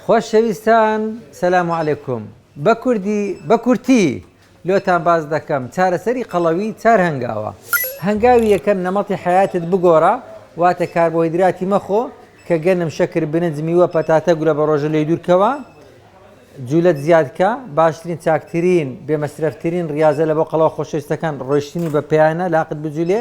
خۆشەویستان سلام علیکم بە کوردی بە کورتی لۆتان باس دەکەم چارەسەری قەڵەوی چار هەنگاوە هەنگاوی یەکەم نەمەتی حەیاتت بگۆڕە واتە کاربۆهیدراتی مەخۆ کە گەنم شەکر برنج میوە پەتاتە گورە بە ڕۆژە لێی دوور کەوە جولەت زیاد کە باشترین چاکترین بێ مەسرەفترین ڕاضە لە بۆ قەڵەوە خۆشەویستەکان ڕۆشتنی بە پێیانە لاقت بجولێ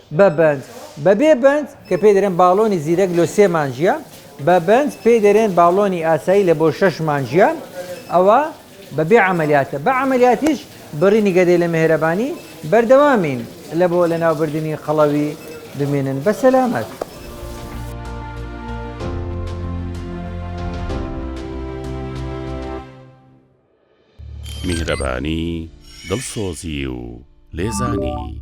بە بەند، بە بێ بەند، کە پێی دەرێن باڵۆنی زیرەک لۆ سێ مانگیە، بە بەند پێی دەرێن باڵۆنی ئاسایی لە بۆ شەش مانگیە، ئەوە بە بێ عەمەلیاتە، بە عەمەلیاتیش بڕینی گەدەی لە مێهرەبانی بەردەوامین لە بۆ لە ناو بردنی قەڵەوی بمێنن بە سەلامەت. میهرەبانی، دڵسۆزی و لێزانی.